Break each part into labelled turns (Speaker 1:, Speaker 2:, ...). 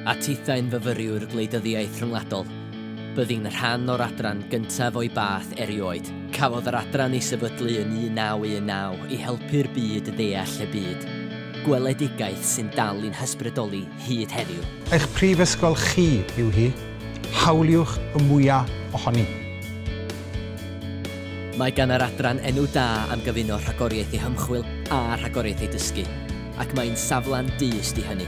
Speaker 1: A tithau'n fyfyriwr gwleidyddiaeth rhyngwladol. Byddin rhan o'r adran gyntaf o'i bath erioed. Cafodd yr adran ei sefydlu yn 1919 i helpu'r byd ddeall y byd. Gweledigaeth sy'n dal i'n hysbrydoli hyd heddiw. Eich prifysgol
Speaker 2: chi yw hi. Hawliwch y mwya' ohoni.
Speaker 1: Mae gan yr adran enw da am gyfuno rhagoriaeth ei hymchwil a rhagoriaeth ei dysgu. ac mae'n safle'n dyst i hynny,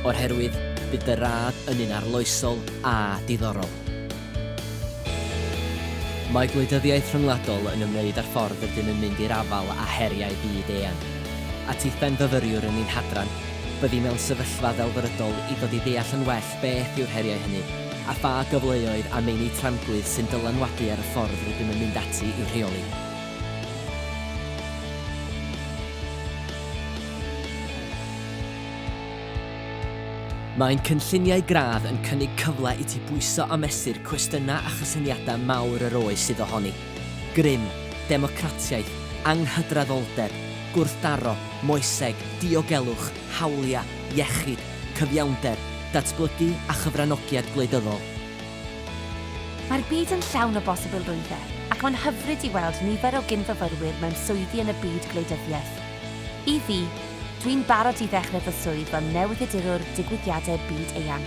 Speaker 1: o'r herwydd bydd dy radd yn un arloesol a diddorol. Mae gwleidyddiaeth rhyngwladol yn ymwneud â'r ffordd rydym yn mynd i'r afael â heriau byd-eang. A tith benfyfyriwr yn ein hadran, byddi mewn sefyllfa ddelfrydol i ddod i ddeall yn well beth yw'r heriau hynny a pha gyfleoedd a meini tramgwydd sy'n dylanwadu ar y ffordd rydym yn mynd ati i'w rheoli. Mae ein cynlluniau gradd yn cynnig cyfle i ti bwyso a mesur cwestiynau a chysyniadau mawr yr oes sydd ohoni, grym, democratiaeth, anghydraddoldeb, gwrthdaro, moeseg, diogelwch, hawliau, iechyd, cyfiawnder, datblygu a chyfranogiad gwleidyddol.
Speaker 3: Mae'r byd yn llawn o bosibilrwyddau ac mae'n hyfryd i weld nifer o gyn-fyfyrwyr mewn swyddi yn y byd gwleidyddiaeth. I fi, dwi'n barod i ddechrau fy swydd fel newyddiadurwr digwyddiadau byd eang.